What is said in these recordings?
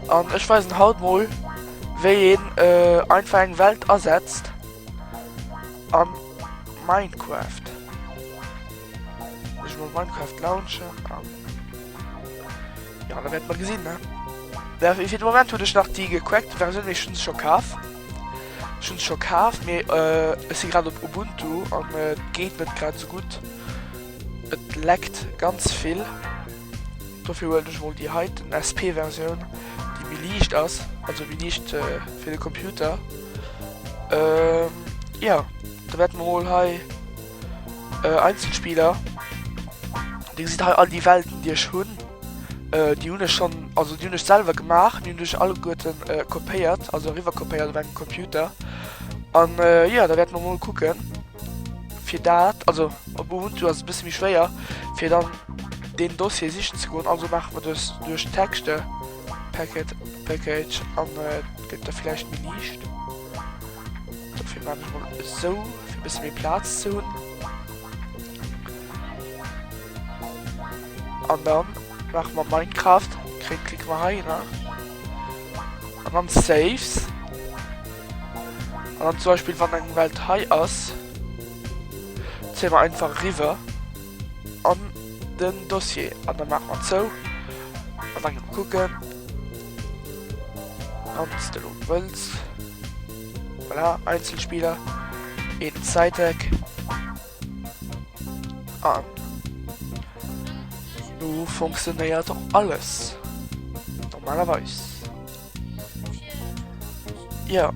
An ech weisen haut mol wéi een äh, einfach eng Welt asetzt am Minecraft. Ech mo Minecraft launchen an ja da werd man gesinn ne. Ja, fir de Moment hunn ech nach déi gecrackt Versioun, mee ech hunn se scho kaf. Ech hunn se scho kaf, mee äh, ech si grad op Ubuntu an et geet net grad esou gutt. Et leckt ganz vill, dofir huelen ech mol déi heiten SP Versioun déi méi liicht ass, also méi liicht fir de Computer. Jo da wäerte mer mol hei Einzelspieler, Dir gesitt hei all déi Welten déi ech hunn, déi hunn ech schonn, also déi hunn ech selwer gemaach, déi hunn ech alleguerte kopéiert, also eriwwer kopéiert op engem Computer an jo da wäerte mer mol kucken. Fir dat, also op Ubuntu ass et e bësse méi schwéier, fir dann deen Dossier sichen ze goen, also maache mer dës duerch d'Texte Packet Package an et gëtt da vläicht méi liicht. Dofir maachen ech mol esou, fir e bësse méi Plaz ze hunn. An dann maache mer Minecraft, klicke mer heihinner. An dann Saves. An dann zum Beispiel, wann eng Welt hei ass, ziehen wir einfach rüber an den Dossier. An dann machen wir zu. Und dann gehen wir gucken. Und das ist der Wels. Voilà, Einzelspieler. Eben Side-Tag. An nu funktionéiert och alles normalerweis. Ja.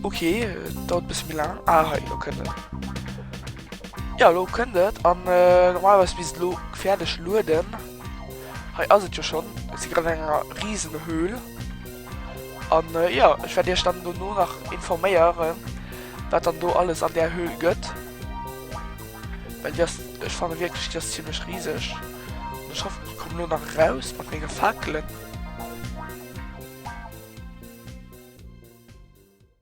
Okay, dat bis mir lang. Ah, hei, lo kënnt et. Ja, lo kënnt et. An äh, normalerweis bis lo gefährlech lueden. Hei ass et jo schon. Et si grad enger riesen Höhl. An jo, ech wäert iech dann dono nach informéieren, wat dann do alles an där Höhl gëtt. Well déi ass, ech fanne wierklech, déi ass zimlech riseg. An ech hoffen, ech komme lo nach eraus mat menge Fakelen.